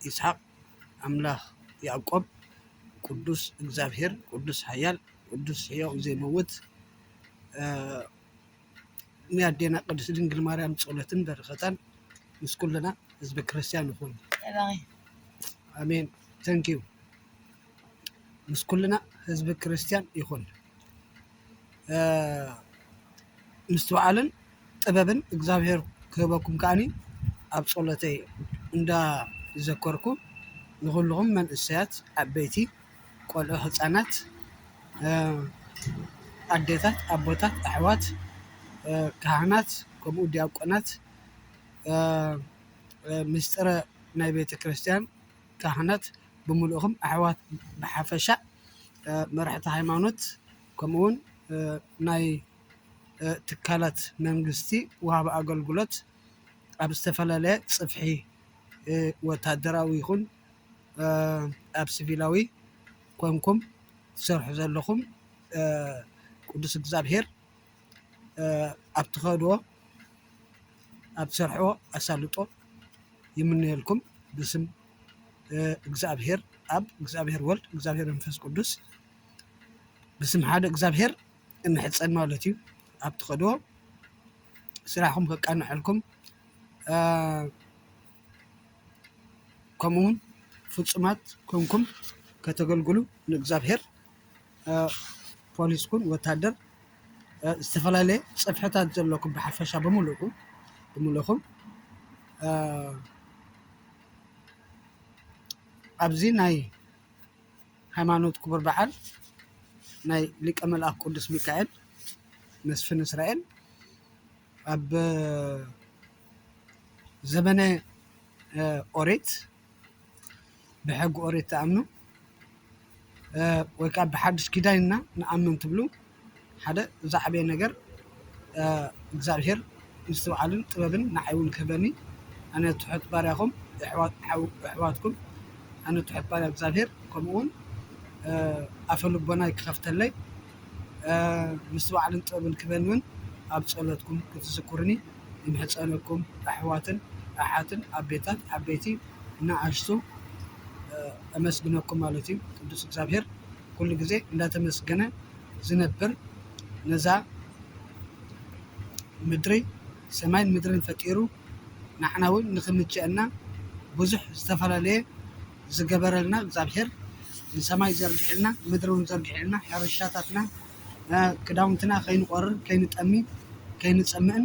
ይስሓቅ ኣምላክ ያእቆብ ቅዱስ እግዛብሄር ቅዱስ ሓያል ቅዱስ ሕያው ዘይመውት ናይ ኣዴና ቅድስት ድንግል ማርያም ጸሎትን በረከታን ምስ ኩልና ህዝበ ክርስቲያን ይኹን። ኣሜን ተንኪው ምስ ኩልና ህዝቢ ክርስቲያን ይኹን። ምስትውዓልን ጥበብን እግዚኣብሔር ክህበኩም ከኣኒ ኣብ ጸሎተይ እንዳዘከርኩ ንኹልኹም መንእሰያት ዓበይቲ ቆልዑ ህጻናት ኣዴታት ኣቦታት ኣሕዋት ካህናት ከምኡ ድያቆናት ምስጢረ ናይ ቤተክርስትያን ካህናት ብምሉእኹም ኣሕዋት ብሓፈሻ መራሕቲ ሃይማኖት ከምኡውን ናይ ትካላት መንግስቲ ወሃቢ ኣገልግሎት ኣብ ዝተፈላለየ ጽፍሒ ወታደራዊ ይኹን ኣብ ስቪላዊ ኮንኩም ትሰርሑ ዘለኹም ቅዱስ እግዚኣብሔር ኣብ ትኸድዎ ኣብ ትሰርሕዎ ኣሳልጦ ይምነየልኩም ብስም እግዚኣብሔር ኣብ እግዚኣብሔር ወልድ እግዚኣብሔር መንፈስ ቅዱስ ብስም ሓደ እግዚኣብሔር እንሕጸን ማለት እዩ ኣብ ትኸድዎ ስራሕኩም ከቃነሐልኩም ከምኡውን ፍጹማት ኮንኩም ከተገልግሉ ንእግዚኣብሔር ፖሊስ ኩን ወታደር ዝተፈላለየ ፅፍሕታት ዘለኩም ብሓፈሻ ብምሉእኩም ብምሉእኹም ኣብዚ ናይ ሃይማኖት ክቡር በዓል ናይ ሊቀ መልኣክ ቅዱስ ሚካኤል መስፍን እስራኤል ኣብ ዘመነ ኦሪት ብሕጊ ኦሪት ትኣምኑ ወይ ከዓ ብሓዱሽ ኪዳን ኢና ንኣምን ትብሉ ሓደ ዝዓበየ ነገር እግዚኣብሄር ምስትውዓልን ጥበብን ንዓይ እውን ክህበኒ ኣነ ትሑት ባርያኹም ኣሕዋትኩም ኣነ ትሑት ባርያ እግዚኣብሄር ከምኡ እውን ኣፈ ልቦናይ ክኸፍተለይ ምስትውዓልን ጥበብን ክህበኒ እውን ኣብ ፀሎትኩም ክትዝክሩኒ ይምሕጸነኩም ኣሕዋትን ኣሓትን ኣቤታት ዓበይቲ ንኣሽቱ ኣመስግነኩም ማለት እዩ ቅዱስ እግዚኣብሔር ኩሉ ግዜ እንዳተመስገነ ዝነብር ነዛ ምድሪ ሰማይን ምድርን ፈጢሩ ንዓና እውን ንክምችኣና ብዙሕ ዝተፈላለየ ዝገበረልና እግዚኣብሔር ንሰማይ ዘርጊሕልና ምድሪ እውን ዘርጊሕልና ሕርሻታትና ክዳውንትና ከይንቆርር ከይንጠሚ ከይንፀምእን።